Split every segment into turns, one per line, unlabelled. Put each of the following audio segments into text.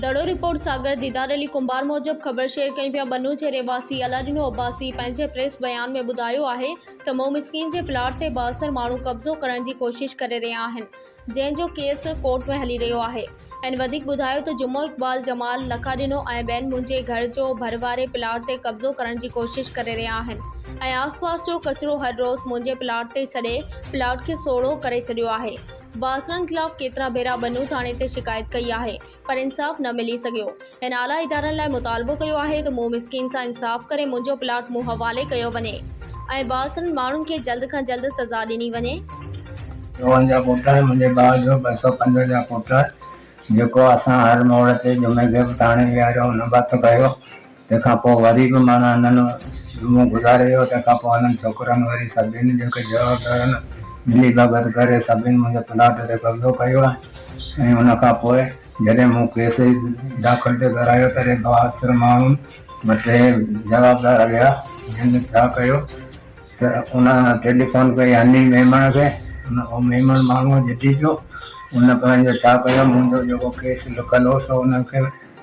دڙو report Sagar Didar Ali Kumbhar موجب خبر share ڪئي پيا بنو جي رهواسي علاڏينو عباسي پنهنجي پريس بيان ۾ ٻڌايو آهي ته مئو مسڪين جي پلاٽ تي بااثر ماڻهو قبضو ڪرڻ جي ڪوشش ڪري رهيا آهن جنهن جو ڪيس ڪورٽ ۾ هلي رهيو آهي هن وڌيڪ ٻڌايو ته جمعو اقبال جمال لکاڏينو ۽ ٻين منهنجي گهر جو ڀر واري پلاٽ تي قبضو ڪرڻ جي ڪوشش ڪري رهيا آهن ۽ آس پاس جو ڪچرو هر روز منهنجي پلاٽ تي ڇڏي پلاٽ کي سوڙهو ڪري ڇڏيو آهي باسرن خلاف ڪيترا ڀيرا ٻنو ٿاڻي تي شڪايت ڪئي آهي پر انصاف نه ملي سگهيو هن اعليٰ ادارن لاء مطالبو ڪيو آهي ته مون مسڪين سان انصاف ڪري منهنجو پلاٽ مون حوالي ڪيو وڃي ۽ باسرن ماڻهن کي جلد کان جلد سزا ڏني وڃي. روهن جا پٽ ۽ منهنجي
ڀاء جو ٻه سؤ پنج جا پٽ جيڪو اسان هر موڙ تي جمعي کي به ٿاڻي ويهاريو ان به هٿ کنيو. تنهن کان پوء وري به معنيٰ هنن منهن گذاري ويو. تنهن کان پوء هنن ڇوڪرن وري سڀني جن کي جوابدارن ملي ڀڳت ڪري سڀني منهنجي پلاٽ تي قبضو ڪيو آهي ۽ ان کان پوء جڏهن مون ڪيس داخل تي گهرايو ته ري بااثر ماڻهن مان ٽي جوابدار ويا جن ڇا ڪيو ته ان ٽيليفون ڪئي هني ميمڻ کي ان او ميمڻ ماڻهو جتي پيو ان پنهنجو ڇا ڪيو منهنجو جيڪو ڪيس لڪل هو سو انهن کي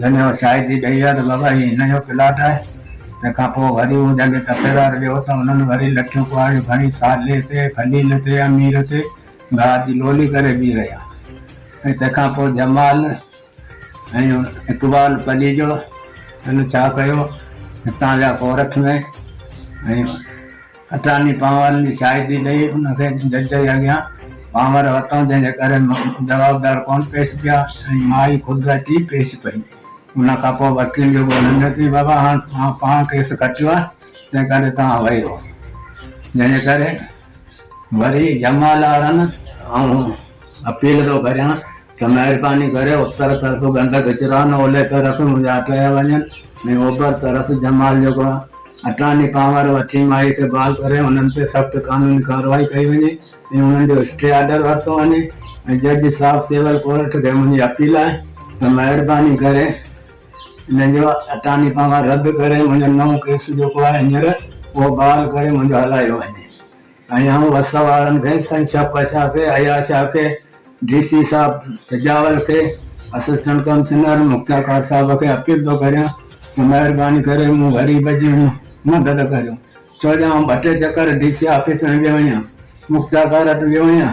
جنهن جو شاهد ٿي ڏئي ويا ته بابا هي هن جو پلاٽ آهي. تنهن کان پوء وري هو جڳهه تي پيرار ويو ته هنن وري لٺيون ڪهاڙيون کڻي صالح تي، خليل تي، امير تي گاهه جي لولي ڪري بيهي رهيا ۽ تنهن کان پوء جمال ۽ اقبال پليجو هن ڇا ڪيو هتان ويا ڪورٺ ۾ ۽ اٽارني پنهور جي شاهدي ڏئي ان کي جج جي اڳيان پنهور ورتائون جنهن جي ڪري جوابدار ڪونه پيش ٿيا ۽ ماء ئي خود اچي پيش پئي ان کان پوء وڪيل جو ڳولڻ ۾ چيس بابا هاڻ توهان پاڻ ڪيس کٽيو آهي تنهن ڪري توهان ويو جنهن جي ڪري وري جمالارن آئون اپيل ٿو ڪريان ته مهرباني ڪري اتر طرف گند ڪچرا ۽ اولهه طرف مزاح ڪيا وڃن ۽ اوڀر طرف جمال جوڳا اٽاني پاور وٺي ماهي کي بحال ڪري انهن تي سخت قانوني ڪارروائي ڪئي وڃي ۽ انهن جو اسٽي آرڊر ورتو وڃي ۽ جج صاحب سول ڪورٽ کي منهنجي اپيل آهي ته مهرباني ڪري انهن جو اٽاني پاور رد ڪري منهنجو نئون ڪيس جيڪو آهي هينئر اهو بحال ڪري منهنجو هلايو وڃي. ايان وس وارن کي، سنڌ شفقت شاهه کي، اياز شاهه کي، ڊي سي صاحب سجاول کي، اسسٽنٽ ڪمشنر مختيار ڪاڪ صاحب کي اپيل ٿو ڪريان ته مهرباني ڪري مون غريب جي مدد ڪريو ڇو جو آئون ٻه ٽي چڪر ڊي سي آفيس ۾ ويو آهيان، مختيار ڪاڪ وٽ ويو آهيان.